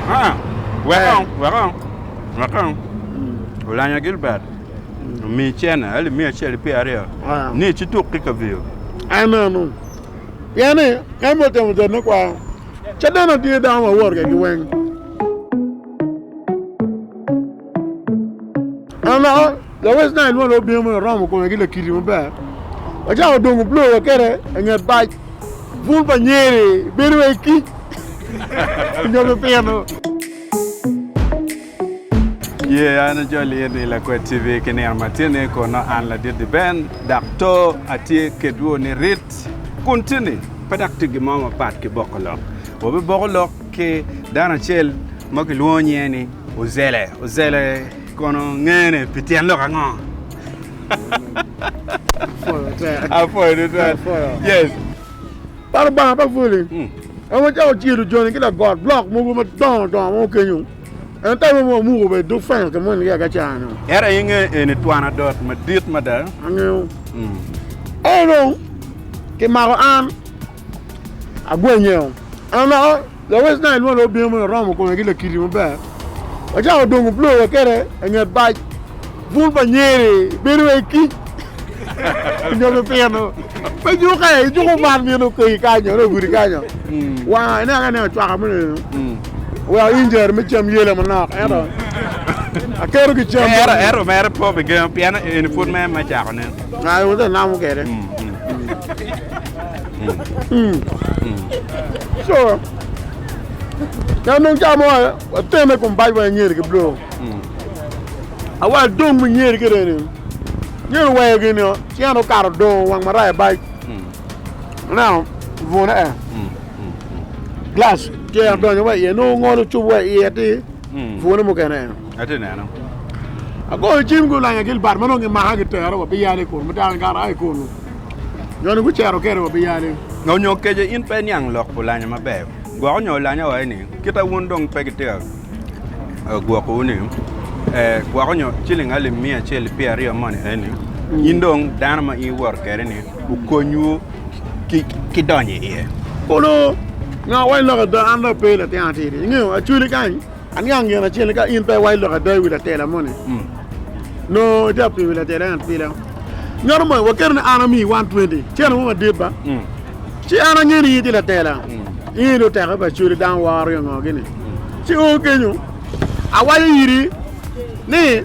Aa, wek on, wek on, wek on. Olanya Gilbert omi cene alip miya acel ki pyera aryo Aa. ni ci tuk ki kaviyo. Anenu. Pien ni en bene otemo jot me kwaro. Caden atye dano ma wot kwedgi weng. Ama, lawec nai lwonde obino mono oromo kome ki lakiti maber. Wacako dongo blo wakete i nget bac bun pa nyeri bedo wai kic nyo pipino. Ye an ajoli in i Lakwed TV ki nino matini kono an Ladidi Ben dak to atye kedwu ni rit kun tini pe dak tye gin mo mapat ki boko lok. Wabiboko lok ki dano acel ma kilwongo nyinge ni Ozele. Ozele kono ngene pi tyen lok ango? Apwoyo tutwal. Yes. Par Lubanga pa Fuli. Hmm. En wacako ciro joni ki lagot blok mogo madongo dongo mo kenyo. En te romo wamuko be duk fengo ke moni ki agacano. Era inge eni twan adot madit mada. Angeo. Hmm. Eno, kimako an. Agwenyeo, an naka lawec na ilwongo obino meno oromo kome ki lakiri maber. Wacako dongo blo wa kede i nget bac bun pa nyeri bedo wa i kic nyo pi pino me juke ijuko man mito okayi kany nyo nongo gudi kanyo wanga ineno ka ineno cwaka meno eno weko injeri me cam yele manok ento aketo ki cam Ero, ero, mere po pi gengo, pien eni pud me, me cako ne. ayo wate namo kede. so kanong camo atene kum bac wa nyeri ki blo awa dong mi nyeri ki reni nyeri weyo gini cien okato dongo wang maraya bac now vune eh glass tye adonyo wa iye nongo ngolo cup wa iye ti vune mukene eh Atye ka neno. Agoyo cim gulanya Gilbert ma nongo gimaka gitero wa Biyale kun ma dano ngat aye kunu nyo ni gucero kede wa Biyale. Onyo kece in pe iniang lok pu lanya maber gwoko nyo lanya wa eni kita wun dong pe gitika gwoko wu ni ee gwoko nyo ciling alip miya acel ki pyer aryo moni eni in dong dano ma in iwoto kede ni okony wu ki donyo iye. Kulu nyo wa ni lok ada an dong ape latin atidi ingeyo Acholi kany. Aniang gin acel ni ka in pe iwaco lok ada i wi latela moni, nongo itye ka pilo wi latela eni apila. Nyano moni, waketo ni an amiyi 120 cene mo madit ba? Ci an angeyo ni in itye latela, in dong teke pa codi dano woro aryo ngo gini. Ci o kenyo, awaco iri ni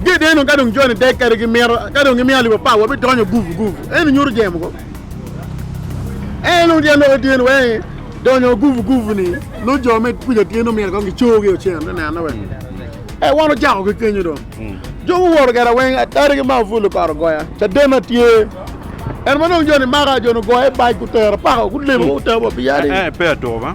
gede dong ka dong joni dek kadi gimito, ka dong gimiyo alip apar, wabidonyo gupu gupu. Eni nyuto jemo ko. En odya lok i tyen wenge, donyo guvu guvu ni nongo jo me kuca tyen omyero kong gicor ki ocen me nene weng. E wan ocako ki kenyo dong. Jo guwoto kera weng atari ki maka pul okato goya. Cadena tye. En ma dong joni maka joni ogoye bac gutero pako gulemo gutero wa pi yadi. Eh, eh, pe atuko ba.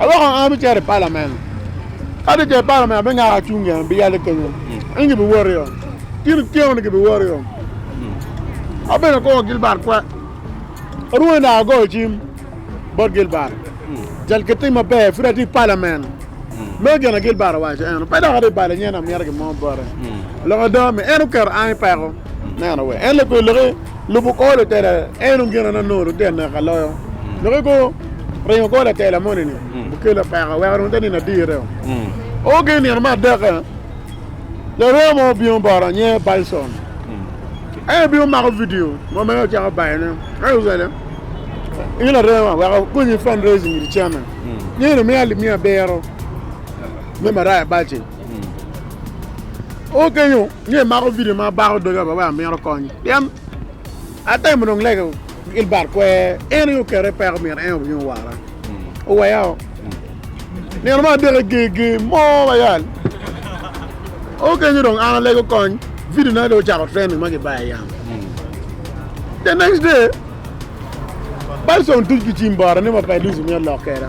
Aloko an abicito i palamen. Ka atye i palamen, abingako acung gin, abiyale kenyo. Eng gibiwoto Kin otyeno-ni gibiwoto Abedo kor Gilbert kwe. Arwony dok agoyo cim bot Gilbert. Cal ki tim maber, pud atye i palamen. Meno gin a Gilbert owaco. En pe dok atye i bale nyen amito gin mo bote. Lok ada, mi en oketo an i peko. Neno wee. En leko i loki. Lubo kor lutela en dong gin anongo lutino naka loyo. Dok ego ringo kor latela moni ni okelo peko weko dong te nino adire o. O gin nino me adeke larema mo obingo bota nyinge Bison. En obingo omako video mo mere ocako bayo ne. Ento ocele in larema wek akonyi fundraising iri chene. Nyeni omiya alip miya abiro me maraya baci. O kenyo ni emako video ma bako doga ba wai amito kony pien atemo dong lego Gilbert kwer en aye okete i peko myero en obin owara oweya o nino ma adek eger ger mo bayal o kenyo dong an alego kony video na dong ocako trending ma gibaye yam the next day Bison tuc ki cim bota ni ma Paidus myero lok keda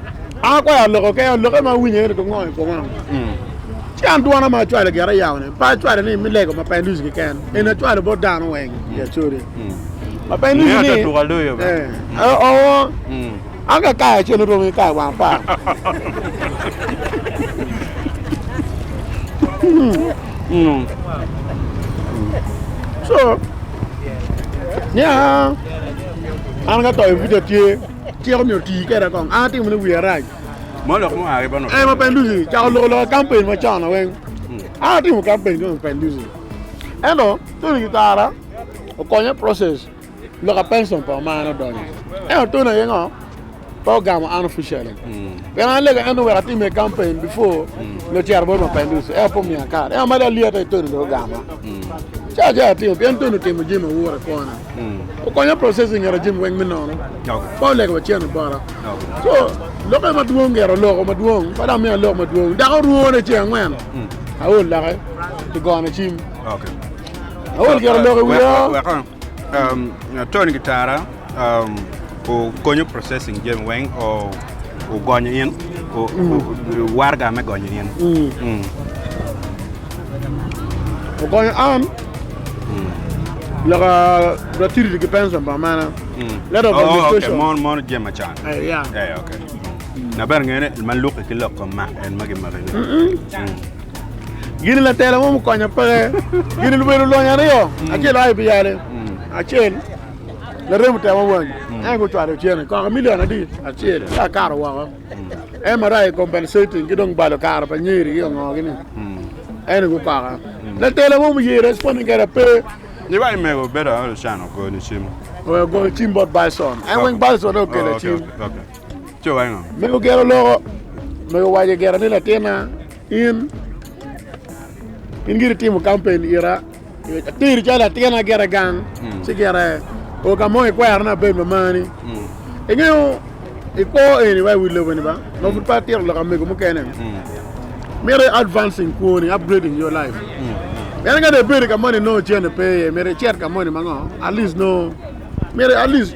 An akwayo aloko keken, alokke ma awinyo ene gongo i koma. Ci an dwona ma acwalo gire yawone, pe acwalo ni me lego Mapenduzi keken, eni acwalo bot dano weng i Acuria. Mapenduzi Ngeyo ni, ata tuka loyo be. eh, eh, oo, an ka kayo acel oromo ki kayo wang apar. So, niya, an ka toyo buca tye. Cik omiyo oti kede kong a timo ni wiya rac. Mo lok mo ari bano. Ema penduzi cako loko loko kampen ma cona weng. An atimo kampen kong penduzi. Ento Tony Gitara okonya process loka pension pa omana odonyo. Ento Tony aye ngo pe ogamo an officially. Pien an alega ento wek atime kampen before lo cero bot ma penduzi ento pe omiya card. Ento mada alyeta i Tony dong ogama. Ca ca atimo pien Tony otimo jami ma wura kwona. Okonya processing ngeto jami weng me nono ba olego wa cen obara so loke madwong ngeto loko madwong ba dang miya lok madwong dako rwone ceng angwen aol lake i gone cim aol ngeto loko i wiya um, Tony Gitara um, okonyo processing jami weng o ogonyo in o, o, warga me gonyo in Mm. Okonyo an loko gratuity ki pension pa amana. Mm. Letter of oh, administration. Okay, mon mon jem macon. Eh, yeah. Eh, okay. Na ber ngene ma luki ki lok kom mak en magi magi. Mm. Gini la tela mo mukonyo peke. Gini lubedo lony aryo. Mm. Acel ai biyale. Mm. Acel la remo tema wang. Mm. Ai go chwaro chene. Kaka milion adi? Acel. Ka karo wako. MRI compensating ki dong balo kare pa nyeri ki ongogi ni ene gu paka la tela mo mu ye responding kere ape. Ni wai mego bedo aol can ogo ni cim. Owe ogo ni cim bot Bison. An weng Bison ne okela cim. Cho wai ngo. Mego gero loko. Mego waje gera ni latina in in giri timo campaign ira. Ateri calo latin agire gang mm. ci gire o ka mo ikwero na bed mamani mm. ingeyo ikwo eni wa iwi lobo ni ba ma pud pa tiro lok amego mukene mm. mire advancing kwoni upgrading your life en ka ne bedi ka moni no cene pe ye mire cet ka moni mango at least no mire at least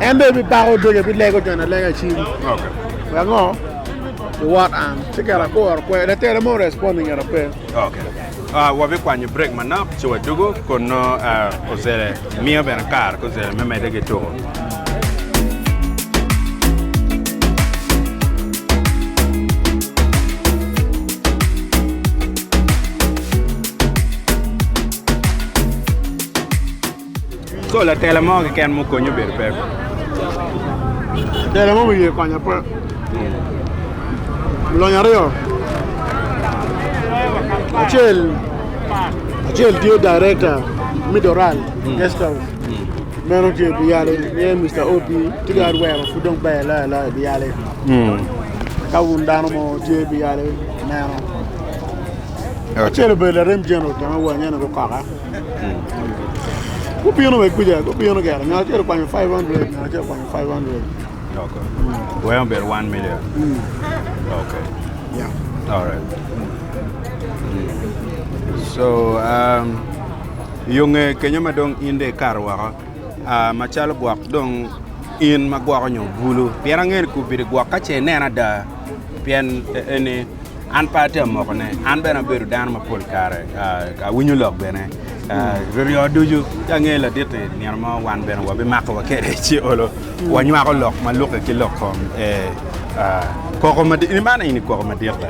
En dong ebibako doge bilego jone alega i cim. Okay. Wek ango? Luwot an. Ci kera akuro kwe. Latere mo respond i ngeta pe. Okay. Uh, wabikwanyo break manok ci wadugo kono uh, ozele miyo bene kar ko ozele me mede ki tuko. Ko latela mo keken ma okonyi obedo peko. Tela mo ma iye konyo pe. Lonyo aryo. Acel acel tye director me Doral guest house. Meno tye biyale niye Mr. OP tye ki adwero pud dong ber loyo loyo biyale. Ka wun dano mo tye biyale meno. Acel obedo larem general kema wa nyen gukoka. Gubino wa kuca, gubino gire, ngat acel okwanyo 500, ngat acel okwanyo 500. Okay. Wee obedo 1 million. Mm. Okay. Yeah. All right. So, um, yo nge kenyo ma dong in de ikato woko, uh, macalo gwok dong in ma gwoko nyo bulu, pien angeni kubidi gwok ka ce ineno ada, pien eni An pe atye amokone, an bene abedo dano ma pol kare awinyo lok bene. Ryoryo ducu, ci angeyo ladit-ti nino mo wan bene wabimako wa kede ci olo wanywako lok ma lukke ki lok kom koko madit, ni man eni koko madit la,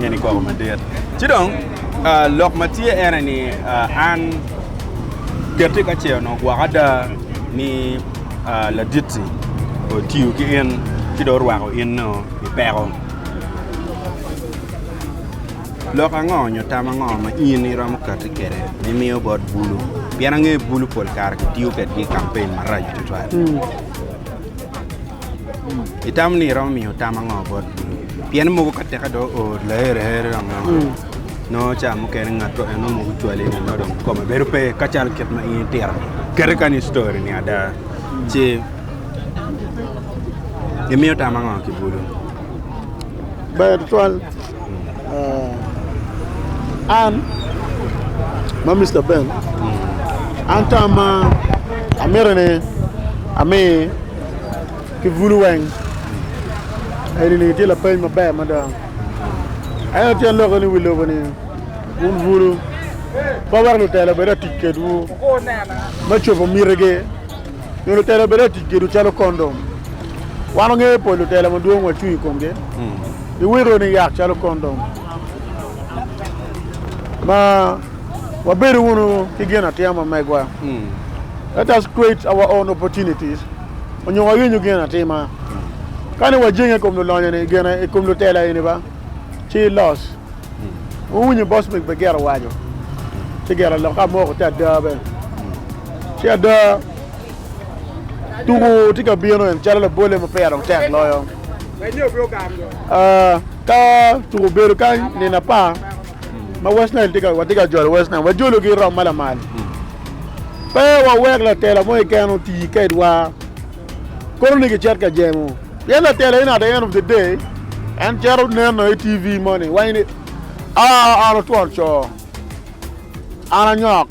eni koko madit. Ci dong lok ma tye ene ni an ketti ka ce onongo gwoko ada ni ladit-ti otiyo ki in ci dong orwako in-nu i peko. Lok ango nyo tam ango ma in iromo kati kwede ma imiyo bot bulu? Pien angeyo ni bulu pol kare kitiyo kwedgi i kampen maraco tutwal. Itamo ni iromo miyo tam ango bot bulu? Pien mogo ka teke dong oo laherehere dong nongo nongo ca mukene ngatto en nongo mogo cwale ni nongo dong kome bedo pe kacalo kit ma in itito-ni. Kadi kani i story-ni ada ci Imiyo tam ango ki bulu? Ber tutwal. Uh, an ma Mr. Ben, an tam ma amito ni ami ki bulu weng. Eni ni tye lapeny maber mada. Ayo tyen loko ni wi lobo ni un bulu pa wek lutelo bed atic kedwu me cobo mitigi. nyo lutela bedo ka tic gedo calo kondom. Wan wangeyo pol lutela madwong wacung i komgi. Iwito ni yak calo kondom ma wabedo wunu ki gin atima ma megwa. Let us create our own opportunities onyo wayenyo gin atima. Kani wajenge i kom lulonyo ni gin i kom lutela eni ba ci los. Wun wunyo Bosmic be gire owaco ci gire lok ka moko te ada bene. Ci ada, tuku tye ka bino en calo labolle ma peya dong tek loyo. Ah, ka tuku obedo kany nino apar ma West Nile tye ka watye ka jolo West Nile, wajologi rom ma lamal. Pe wawek latela mo keken oti kedwa kono ni gicit ka jemo. Pien latela eni at the end of the day en cito neno i TV moni, wanyo ni, Ah, an otwon co, an anyok.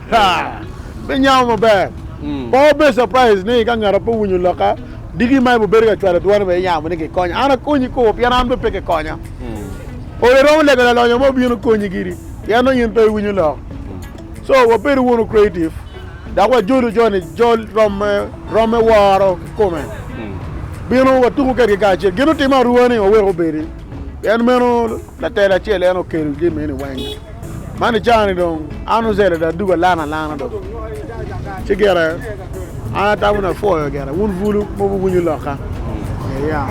Me nyamo maber, pe wubed surprise ni ka ngati pe owinyo lokka, diki ma ebibedo ka cwalo dwone bene yamo ni kikonya. An akonyi koko pien an bene pe kikonya. Olo iromo lego lalonyo mo obin okonyi giri pien nongo in pe iwinyo lok. So wabed wunu creative dok wajolu jo ni jol romme romme woro kikome. Binu watuku kedgi kacel. Gin utimo aruwa ni wawek obedi pien meno latel acel en okelo jami eni weng. Man i caa ni dong an ocele dong adugo alana alana dong ci gire an atamo ni apwoyo gire wun bulu ma wuwinyo lokka iya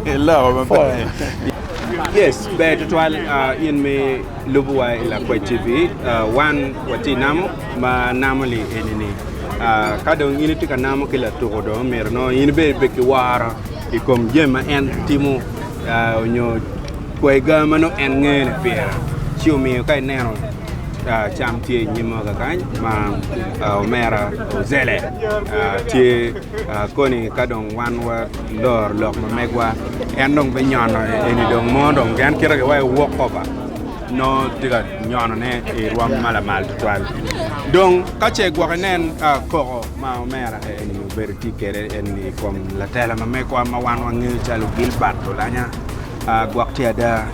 Iloko maber. Yes, ber tutwal ah, in me lubo wa i Lakwed TV. Ah, wan watye namo ma namo li eni ni ah, ka dong in itye ka namo ki latuko dong myero nongo in bene ibed ki woro i kom jami ma en timo nyo kwayi ga ma nongo en ngeyo ni pire, ci omiyo ka ineno cam tye i nyima kakany ma omera Ozele tye koni ka dong wan waloro lok ma megwa en dong binyono eni dong mo dong pien kite aye waci walk over nongo tye ka nyonone i rwom ma lamal tutwal dong ka ce gwok inen koko Ma omera ka eni obedo tye kwede eni i kom latela ma megwa ma wan wangeyo calo Gilbert Olanya, gwok tye ada.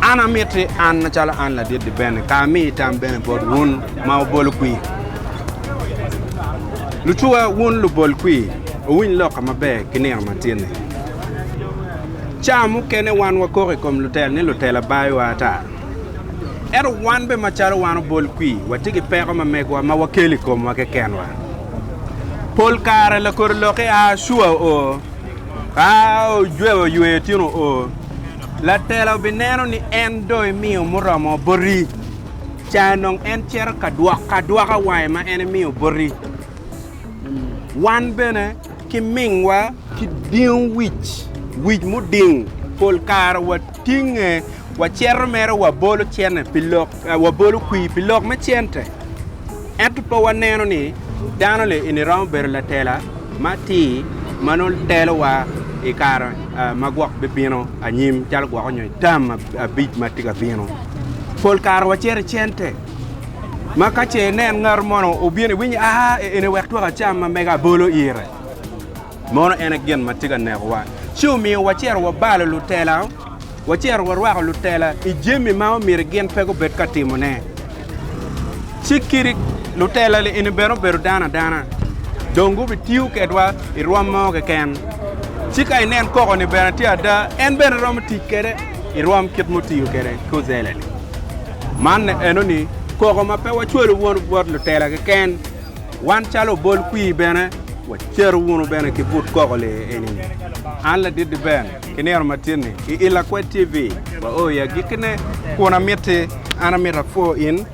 An amiti an macalo an ladit-ti bene ka ami tam bene bot wun ma wubolo kwir. Lucuwa, wun lubol kwir, wuwiny lok-ka maber ki nino matin-ni. Ca mukene wan wakoko i kom lutel ni lutela bayowa ata. Ento wan bene macalo wan obol kwi, watye ki peko ma megwa ma wakelo i komwa kekenwa. Pol kare lakor lokke a Acua o, ka ojweo oywe itino o, latela obineno ni en dong imiyo muromo boti, ca nongo en cito ka dwoko adwoka wange ma en imiyo boti. Wan bene ki mingwa ki dingo wic, wic muding, pol kare wa. Tinge wacito mere wabolo cente pi lok, wabolo kwir pi lok me cente, ento pe waneno ni dano le eni romo bedo latela matir ma nongo telowa i kare ma gwok bibino anyim calo gwok onyo i tam abic ma tye ka bino. Pol kare wacito i cente ma ka ce inen ngatu mono obino iwinyo a eni wek twak acam ma mega abolo ire. Mono en aye gin ma tye ka nekowa, ci omiyo wacito wabalo lutela, wacito warwako lutela i jami ma omyero gin pe gubed ka timone. Ci kit lutela-ni eni bene obedo dano adana, dong gubitiyo kwedwa i rwom mo keken. Ci ka inen koko-ni bene tye ada, en bene romo tic kwede i rwom kit mutiyo kwede ki ocele-ni. Man enoni koko ma pe wacwalo bot lutela keken. Wan calo obol kwir bene wacero wunu bene ki but koko lee eni. An ladit Diben ki nino matin-ni i I Lakwed TV waoo i agikkine kun amitti an amito apwo in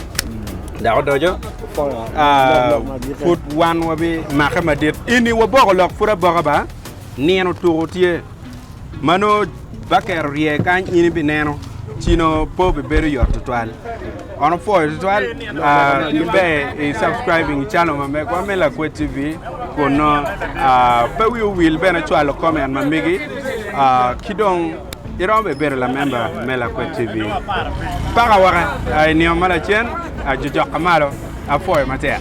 dok odoco pud wan wabi make madit ini waboko lok pud aboka ba nino tuku tye. Ma nongo baker orye kany in ibineno ci nongo po bibedo yot tutwal. On opwoyo tutwal ah, kiber i subscribing i channel ma megwa me Lakwed TV kun nongo ah, pe wi owil bene cwalo comment ma megi ah, ki dong iromo bene bedo lamemba me Lakwed TV. Paka waka ah, i nino ma lacen ah, jojok ka malo apwoyo matek.